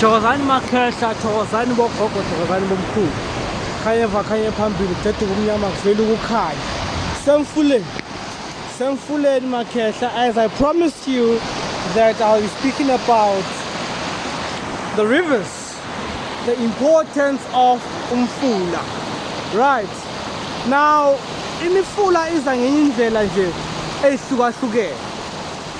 thokozani makhehla thokozani bogogo thokozani bomkhulu khanyeva khanye phambili kudeduka umnyama kuvele ukukhanya semfuleni semfuleni makhehla as i promised you that i'll be speaking about the rivers the importance of umfula right now imifula iza ngenye indlela nje eyihlukahlukene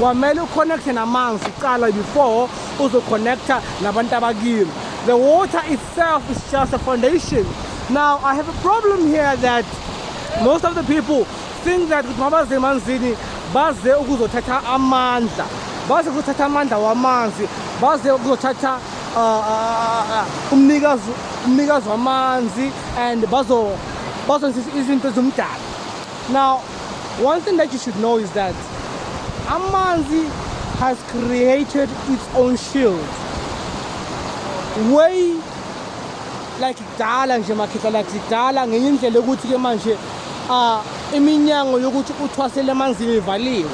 kwamele uconnecte namanzi kuqala before uzoconnecta nabantu abakini the water itself is just a foundation now i have a problem here that most of the people think that ukuthi mabaze emanzini baze ukuzothatha amandla baze ukuzothatha amandla wamanzi baze ukuzothatha uh, uh, uh, umnikazi umnikazi wamanzi and bazo bazonzisa izinto zomdala Now, one thing that you should know is that Amanzi has created its own shield. Way like kudala nje makhetha like kudala ngenye indlela yokuthi ke manje uh, iminyango yokuthi uthwasele emanzini ivaliwe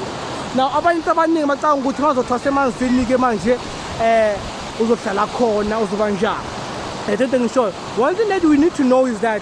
now abantu abaningi bacanga ukuthi mazothwasa emanzini ke manje eh uzohlala khona uzoba njani I don't think so. One thing that we need to know is that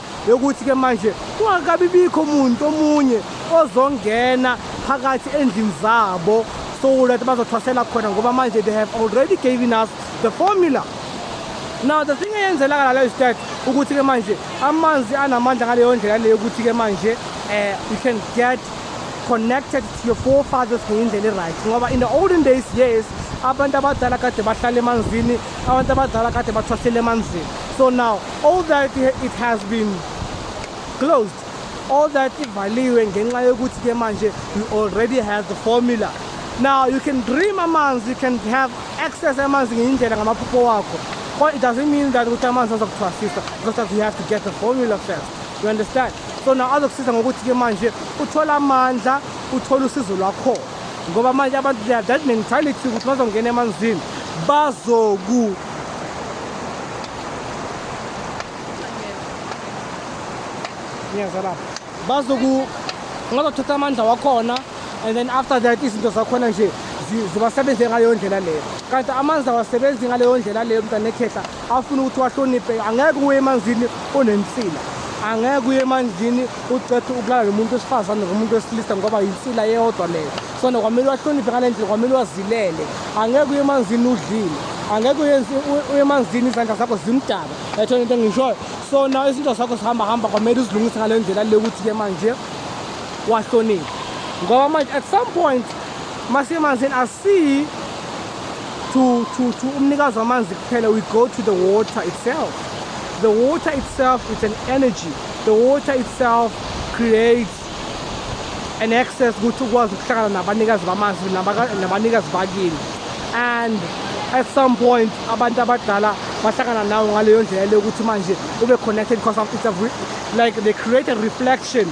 yokuthi-ke manje kungakabi bikho muntu omunye ozongena phakathi endlini zabo so that bazothwasela khona ngoba manje they have already given us the formula now the thing eyenzelaka lalo is that ukuthi-ke manje amanzi anamandla ngaleyo ndlela leyo ukuthi-ke manje um you can get connected to your forefathers ngeyindlela i-right ngoba in the olden days yes abantu abadala kade bahlala emanzini abantu abadala kade bathwasele emanzini so now all that it has been closed all that ivaliwe ngenxa yokuthi ke manje you already have the formula now you can dream amanzi you can have access amanzi ngeyindlela ngamaphupho wakho but it doesn't mean that ukuthi amanzi azokuthwasisa because you have to get the formula first you understand so now azokusiza ngokuthi ke manje uthole amandla uthole usizo lwakhona ngoba manje abantu they are that mentality ukuthi bazongena emanzini bazoku niyeza lapho bazoku ngazothatha amandla wakhona and then after that izinto zakhona nje zibasebenze ngaleyo ndlela leyo kanti amanzi awasebenzi ngaleyo ndlela leyo mntana ekhehla afuna ukuthi wahloniphe angeke uye emanzini unensila angeke uye emanzini ucethe ukulala nomuntu wesifazane ngomuntu wesilisa ngoba yinsila yeyodwa leyo sona kwamele wahloniphe ngale ndlela kwamele wazilele angeke uye emanzini udlile angeke uye emanzini izandla zakho zimdaka etho into engishoyo so na izinto zakho zihamba hamba kwamele uzilungise ngale ndlela le ukuthi-ke manje wahloniphe ngoba manje at some point masemanzini asiyi to, to, to umnikazi wamanzi kuphela we go to the water itself the water itself is an energy the water itself creates an access ukuthi ukwazi ukuhlangana nabanikazi bamanzi nabanikazi bakini and at some point abantu abadala bahlangana nawo ngaleyo ndlela leyo ukuthi manje ube connected because of it's a like they create a reflection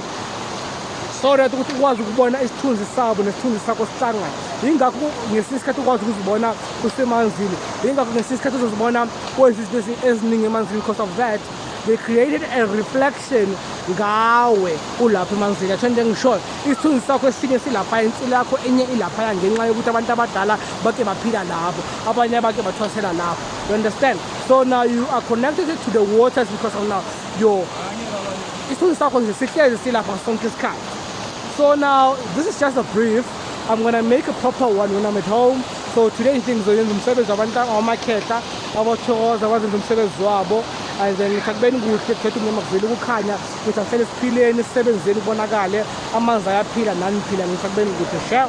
so that ukuthi ukwazi ukubona isithunzi sabo nesithunzi sakho sihlangana yingakho ngesinye isikhathi ukwazi ukuzibona usemanzini yingakho ngesinye isikhathi uzozibona kwenza izinto eziningi emanzini because of that they created a reflection ngawe ulapha emanzini atho into engishoyo isithunzi sakho esinye silaphaya insila yakho enye ilaphaya ngenxa yokuthi abantu abadala bake baphila lapho abanye abake bathwasela lapho you understand so now you are connected to the waters because of now your isithunzi sakho nje sihlezi silapha sonke isikhathi so now this is just a brief I'm gonna make a proper one when I'm at home. So today nje ngizoyenza umsebenzi wabantu abamakhetha abathokoza abazenza umsebenzi wabo and then ngithi akubeni kuhle kukhetha umnyama kuvele ukukhanya ukuthi asihlele siphileni sisebenzeni kubonakale amanzi ayaphila nani phila ngithi akubeni kuhle sha